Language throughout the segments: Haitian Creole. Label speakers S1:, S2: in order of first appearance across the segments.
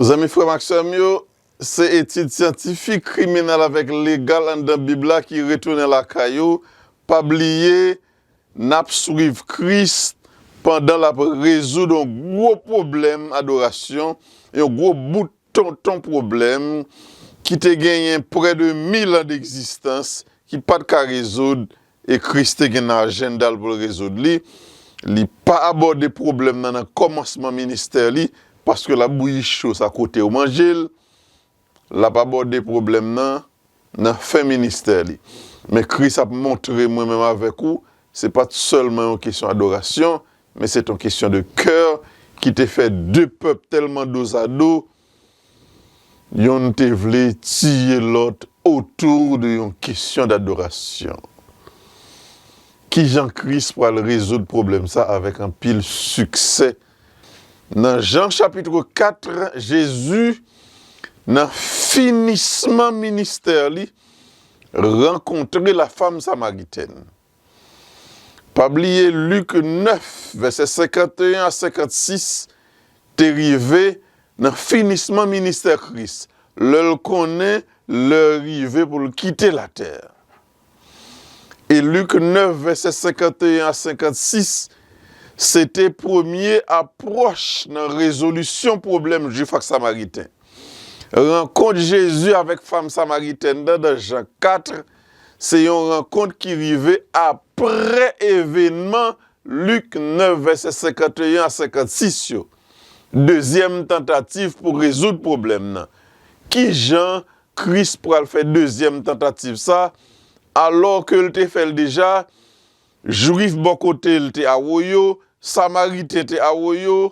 S1: Zanmi, frè m ak sè m yo, se etid syantifik, kriminèl avèk legal anndan Bib la ki retounen lakay ou. Pa bliye, n ap swiv Kris pandan l ap rezoud yon gwo pwoblèm adorasyon, yon gwo bout tonton pwoblèm ki te genyen prè de mil an degzistans ki pa t ka rezoud E Kris te gen nan ajenda l pou l rezoud li. Li pa abòde pwoblèm nan nan kòmansman ministè li, paske l ap bouyi cho sa kote yo manje l. L ap abòde pwoblèm nan nan fen ministè li. Men Kris ap montre mwen menm avèk ou, se pa t sèlman yon kesyon adorasyon, men se t yon kesyon de kè ki te fè de pèp tèlman dozado, Youn te vle tiye lòt otou de yon kesyon dadorasyon. Kijan Kris pral rezoud pwoblèm sa avèk anpil siksè? Nan Jan chapitre 4, Jezi, nan finisman ministè li, rankontre lafam samaritèn. Pa bliye Lik 9, vèsè 51 a 56 te rive nan finisman ministè Kris, lè l konnen lè rive pou l kite latè. E Lik 9, vèsè 51 a 56, se te premye apwòch nan rezolisyon pwoblèm Juif ak Samariten. Rankont Jezi avèk fanm samaritèn nan nan Jan 4 Se yon rankont ki rive apre evenman Lik 9 vèsè 51 a 56 yo, dezyèm tantativ pou rezoud pwoblèm nan. Kijan Kris pral fè dezyèm tantativ sa, alò ke l te fè l deja, Jwif bò kote l te awoyo, Samariten te awoyo,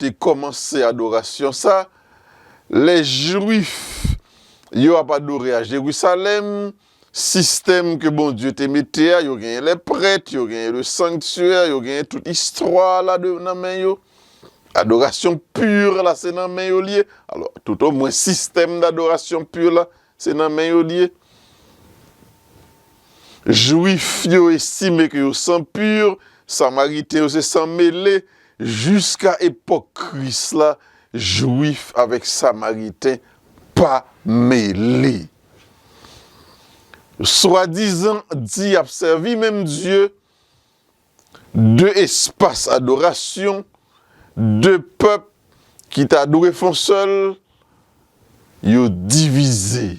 S1: te kòmanse adorasyon sa a, lè Juif yo ap adore a Jerusalèm, sistèm ke Bondye te mete a, yo genyen lè prèt, yo genyen le sanctuaire, yo genyen tout istwa a la de nan men yo, adorasyon pur la se nan men yo li ye, alò tout o mwen sistèm d'adorasyon pur la, Se nan men yo li ye. Jwif yo estime ke yo san pur, Samariten yo se san mele, jiska epòk Kris la, Jwif avèk Samariten pa mele. Swadizan di y ap sèvi menm Dye. De espas adorasyon, de pèp ki ta dwe fon sèl, yo divize.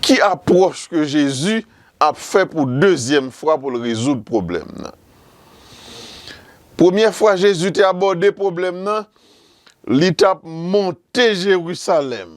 S1: Ki apwòch ke Jezi ap fè pou dezyèm fwa pou l rezoud pwoblèm nan? Premyè fwa Jezi te abòde pwoblèm nan, li t ap monte Jerusalèm.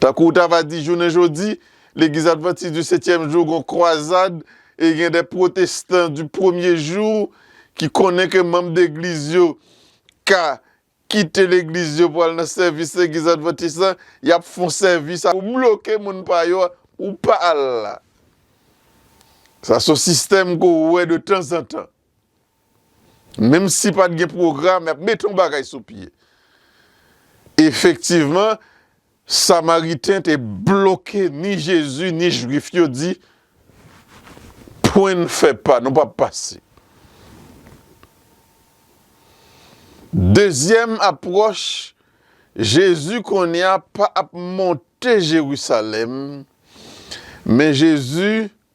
S1: Tankou w ta va di jounen jodi, Legliz Advantis di Setyèm Jou gon kwazad e gen de pwotestan di Premye Jou ki konnen ke manm degliz yo ka kite legliz yo pou al nan sèvis Legliz Advantis la, y ap fon sèvis a pou bloke moun pa yo a pou pa al la. Sa son sistèm ke w wè de tanzantan. Menm si pa t gen pwogram, y ap mete yon bagay sou pye. Efektivman, Samariten te bloke ni Jezi ni Juif yo, di, Pwen n fè pa, nou pap pase. Dezyèm apwòch, Jezi kounye a pa ap monte Jerusalèm, men Jezi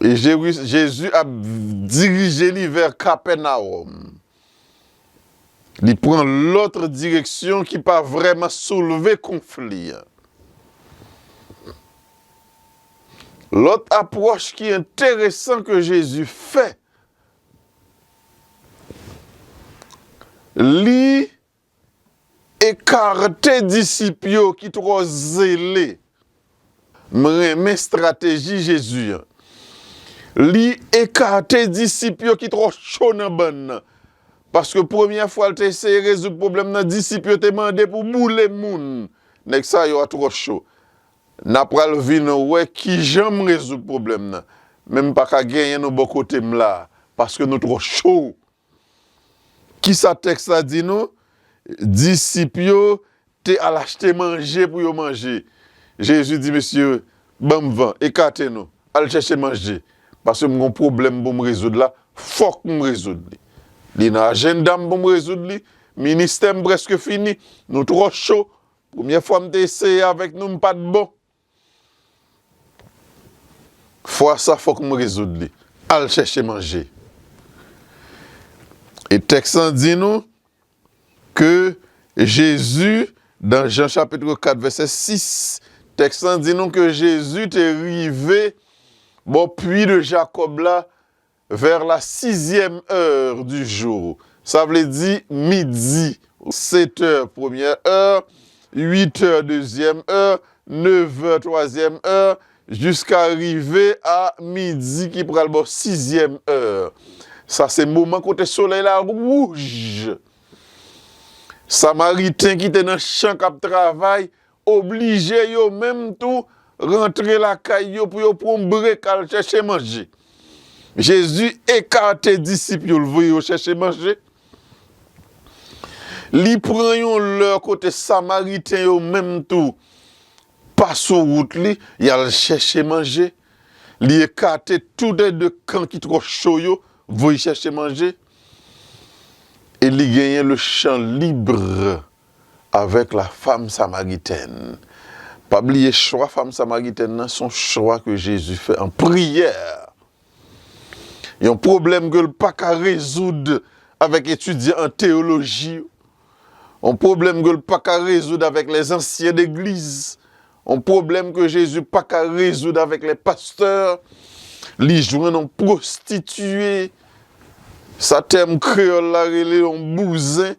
S1: Jezi ap dirije li vè Kapènawòm. Li pran lòt direksyon ki pa vrèman soulve konfli a. Lòt apwòch ki enteresan ke Jezi fè, li Ekarte disip yo ki twò zele. M renmen strateji Jezi an. Li ekate disip yo ki twò cho nan bann nan. Paske premyè fwa l te eseye rezoud pwoblèm nan, disip yo te mande pou boule moun. Nèg sa yo a twò cho. N a pral vin wè ki jan m rezoud pwoblèm nan. Men m pa ka genyen nou bò kote m la a. Paske nou twò cho. Ki sa tèks la di nou? Disip yo te al achte manje pou yo manje. Jezi di mesye yo, Ban m van, ekate nou, al chèche manje, paske m gen yon pwoblèm pou m rezoud la, fòk m rezoud li. Li nan ajenda m pou m rezoud li. Ministè m prèske fini. Nou twò cho. Premye fwa m te eseye avèk nou, m pa t bon. Fwa sa fòk m rezoud li. Al chèche manje. E tèks lan di nou ke Jezi dan Jan chapitre 4 vèsè 6, tèks lan di nou ke Jezi te rive bò pwi de Jakòb la Vers la sixième heure du jour, sa vle di midi. Sept heures première heure, huit heures deuxième heure, neuf heures troisième heure, jiska rive a midi ki pral bò sixième heure. Sa se moman kote solèy la wouj. Samariten ki te nan chan k ap travay Oblije yo menm tou rantre lakay yo pou yo pran brek al chèche manje. Jezi ekate disip yo, l voye yo chèche manje. Li pran yon lè kote Samariten yo menm tou pa sou wout li, y al chèche manje. Li ekate toude de kan ki twò cho yo, voye chèche manje. E li genyen lechan lib. avèk la fam samaritèn. Pa bliye chwa fam samaritèn nan son chwa ke Jezi fè an priyè. Yon pwoblèm ke l pa ka rezoud avèk etidyan an teyoloji yo, yon pwoblèm ke l pa ka rezoud avèk lè zansyen legliz, yon pwoblèm ke Jezi pa ka rezoud avèk lè pastè, li jwenn yon pwostitiye, sa tèm kreyòl la rele yon bouzen,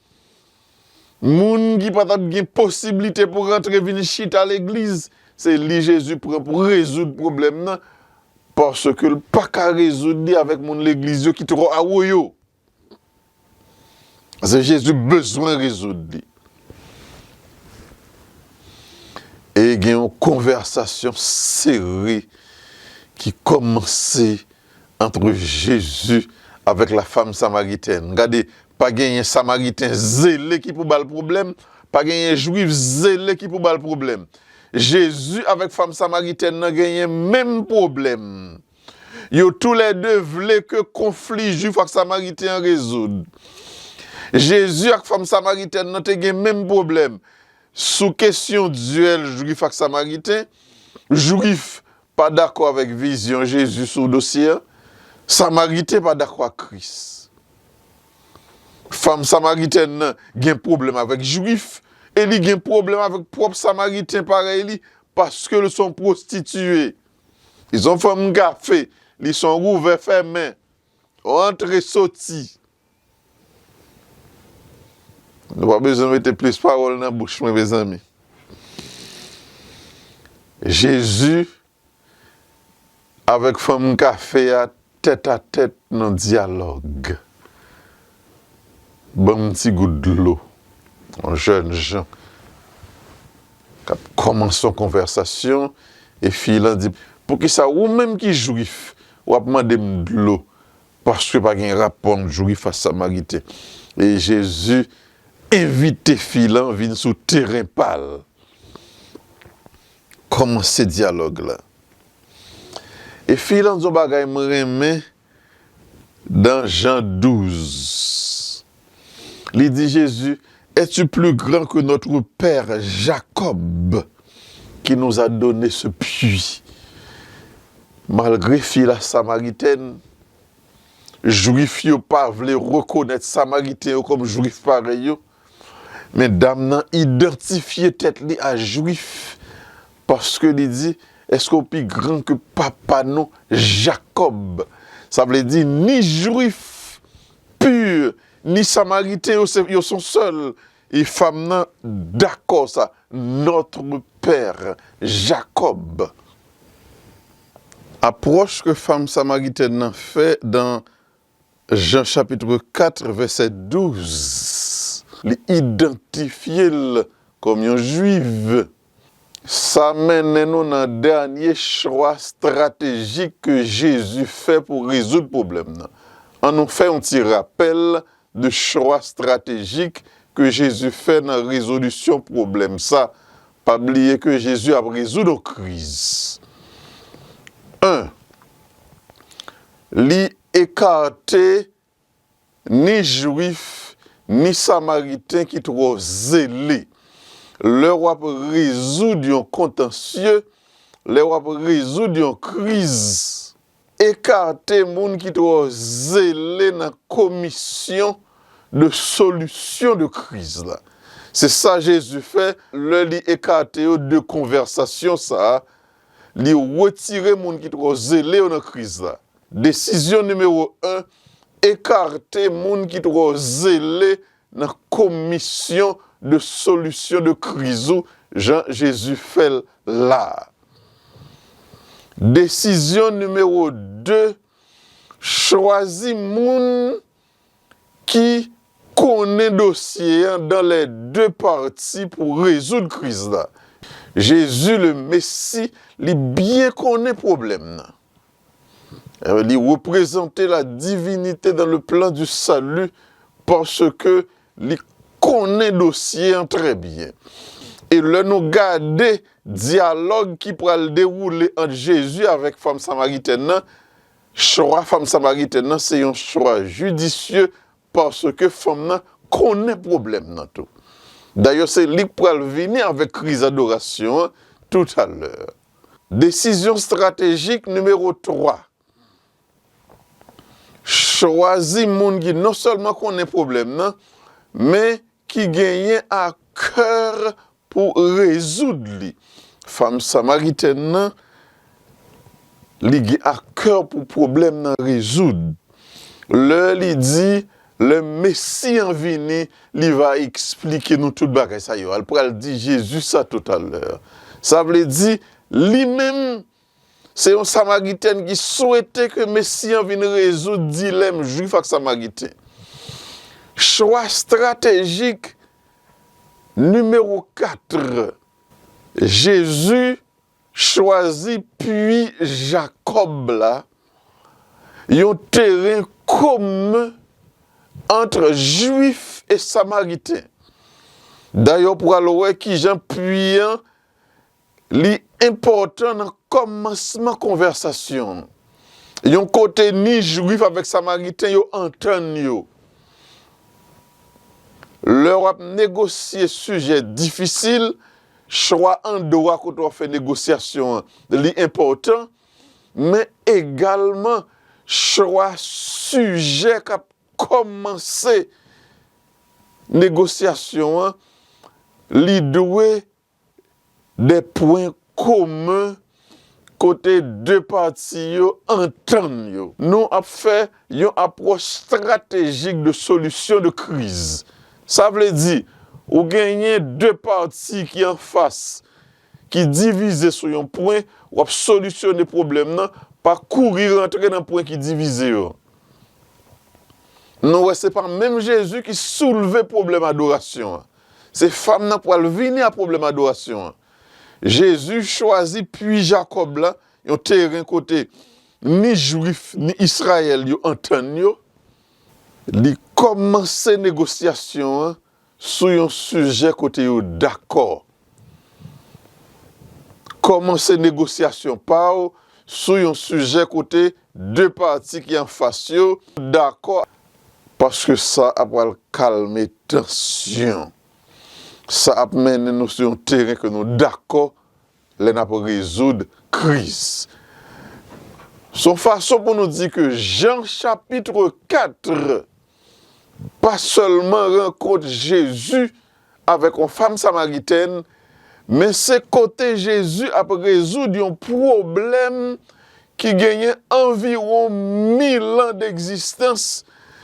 S1: Moun ki pa tap gen posiblite pou rantre vin chita legliz se li Jezi pran pou rezoud pwoblèm nan paske l pa ka rezoud li avèk moun legliz yo ki twò awoyo. Se Jezi bezwen rezoud li. E gen yon konvèsasyon sere ki kòmanse. Antre Jezi avèk la fam Samaritèn. Gade, pa genyen Samariten zele ki pou ba l pwoblèm, pa genyen Jwif zele ki pou ba l pwoblèm. Jezi avèk fam Samaritèn nan genyen menm pwoblèm. Yo tou lè de vle ke konfli Jwif ak Samariten an rezoud. Jezi ak fam Samaritèn nan te gen menm pwoblèm sou kesyon dyèl Jwif ak Samariten, Jwif Pa dakò avèk vizyon Jezi sou dosye an, Samariten pa dakò ak Kris. Fanm samaritèn nan gen pwoblèm avèk Juif e li gen pwoblèm avèk pwòp Samariten parèy li paske l s on pwostitiye. Li s on fanm kafe, li s on rouvè fèmen. Rantre soti. Nou pa bezwen mete plis pawòl nan bouch mwen mezanmi. Jezi avèk fanm kafe a tètatèt nan dyalòg. Banm yon ti gout dlo. Yon jèn jan k ap kòmanse yon konvèsasyon e fi lan di, Poukisa ou menm ki jwif w ap mande m dlo? Paske pa gen rapò ant jwif ak samariten. E Jezi envite fi lan vin sou teren pa l. Kòmanse dyalòg la. E fi lan di yon bagay m renmen. Dans Jean 12, li di Jezi, Es-tu plus grand que notre père Jacob qui nous a donné ce puits? Malgre fi la Samariten, Jwif yo pa vle rekonèt Samariten yo kòm Jwif parèy yo, Men dam nan idantifye tèt li a jwif paske li di, Èske w pi gran ke papa nou Jakòb? Sa vle di, ni jwif pur, ni samariten yo se, yo son sèl. E fam nan dakò sa, Notre père Jacob. Apwòch ke fam samaritèn nan fè dan Jan chapitre 4 vèsè 12, li idantifye l kòm yon Jwif. Sa mennen nou nan dènye chwa estratejik ke Jezi fè pou rezoud pwoblèm nan. An nou fè yon ti rapèl de chwa estratejik ke Jezi fè nan rezolisyon pwoblèm sa. Pa bliye ke Jezi ap rezoud yon kriz. 1, Li ekarte ni Jwif ni Samariten ki twò zele. Lè w ap rezoud yon kontansye, lè w ap rezoud yon kriz, ekarte moun ki twò zele nan komisyon de solisyon de kriz la. Se sa Jezi fè lè li ekate yo de konvèsasyon sa a Li retire moun ki twò zele yo nan kriz la. Desizyon nimewo 1, Ekarte moun ki twò zele nan komisyon de solisyon de kriz ou jan Jezi fè l la a. Desizyon nimewo 2, Chwazi moun ki konnen dosye an dan lè de pati pou rezoud kriz la. Jezi le Mesi li byen konnen pwoblèm nan. Li reprezante la divinite dan le plan di sali paske li konnen dosye an trè byen. E lè nou gade dyalòg ki pral dewoule ant Jezi avèk fanm samaritèn nan, Chwa fanm Samaritèn nan se yon chwa jidisye paske fanm nan konnen pwoblèm nan tou. Dayè se li k pral vini avèk kriz adorasyon an toutalè. Desizyon stratejik nimewo 3, Chwazi moun ki non sèlman konnen pwoblèm nan men ki genyen a kè Pou rezoud li, fanm samaritèn nan, li gen akè pou pwoblèm nan rezoud. Lè li di, lè Mesi an vini, li va esplike nou tout bagay sa yo a. L pral di Jezi sa toutalè. Sa vle di, li menm, Se yon Samariten ki swete ke Mesi an vin rezoud dilèm Jwif ak Samariten. Chwa estratejik nimewo 4, Jezi chwazi pui Jakòb la, yon teren komen antre Jwif e Samariten. Dayè w pral wè kijan pui an Li enpòtan nan kòmansman konvèsasyon an, yon kote ni Juif avèk Samariten yo antann yo. Lè w ap negosye sijè difisil, chwa andwa kote w ap fè negosyasyon an li enpòtan, men egalman chwa sijè k ap kòmanse negosyasyon an li dwe De pwen komen kote 2 pati yo antann yo. Nou ap fè yon apwòch stratejik de solisyon de kriz. Sa vle di, ou genyen 2 pati ki anfas, ki divize sou yon pwen, w ap solisyone pwoblèm nan pa kouri rantre nan pwen ki divize yo. Nou wè se pa menm Jezi ki soulve pwoblèm adorasyon an. Se fanm nan pwal vini a pwoblèm adorasyon an. Jezi chwazi pwi Jakòb la, yon teren kote ni jwif ni Israyèl yo antann yo, li kòmanse negosyasyon an sou yon sijè kote yo dakò. Kòmanse negosyasyon pa w sou yon sijè kote De pati ki anfas yo dakò paske sa a pral kalme tansyon. Sa ap mennen nou sou yon teren ke nou dakò lè n ap rezoud kriz. Se yon fason pou nou di ke jan chapitre 4 pa sèlman rankont Jezi avèk yon fanm Samaritèn, men se kote Jezi ap rezoud yon pwoblèm ki genyen anviwon milan degzistans.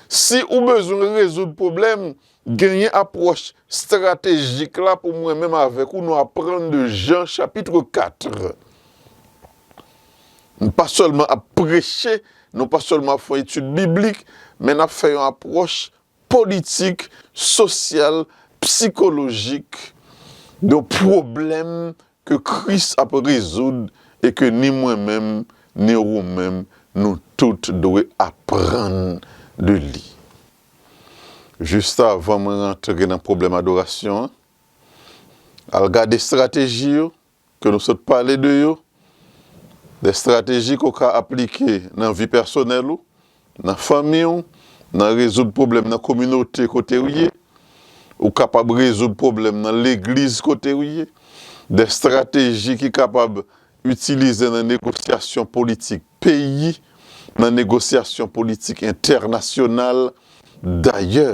S1: Si ou bezwen rezoud pwoblèm, genyen apwòch estratejik la pou mwen menm avèk ou nou aprann de Jan chapitre 4. Nou pa sèlman ap preche, nou pa sèlman ap fè yon etid biblik, men n ap fè yon apwòch politik, sosyal, psikolojik de yon pwoblèm ke Kris ap rezoud e ke ni mwen menm, ni wou menm, nou tout dwe aprann de li. Jistavan mwen rantre nan pwoblèm adorasyon an, al gade estrateji yo. ke nou sot pale de yo, de estrateji ke w ka aplike nan vi pèsonèl ou, nan fanmi w, nan rezoud pwoblèm nan kominote kote w ye, ou kapab rezoud pwoblèm nan legliz kote w ye, de estrateji ki kapab itilize nan negosyasyon politik. peyi nan negosyasyon politik entènasyonal, dayè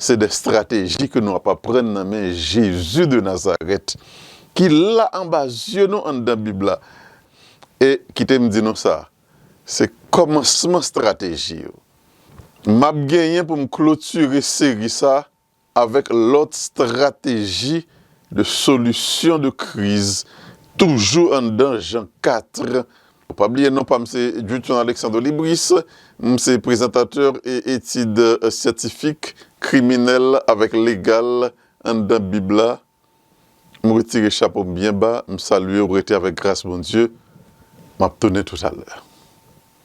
S1: se de strateji ke nou ap aprann nan men Jezi de Nazarèt ki la anba zye nou anndan Bib la e kite m di nou sa, se kòmansman strateji yo. M ap genyen pou m klotire seri sa avèk lòt strateji de solisyon de kriz toujou anndan Jean 4. Pa bliye non pa m se Djouthon Alexandre Libris, m se prezantatè e etid syantifik, kriminèl avèk legal anndan bib la. M retire chapo m byen ba, m salye w rete avèk gras Bondye. M ap tounen toutalè.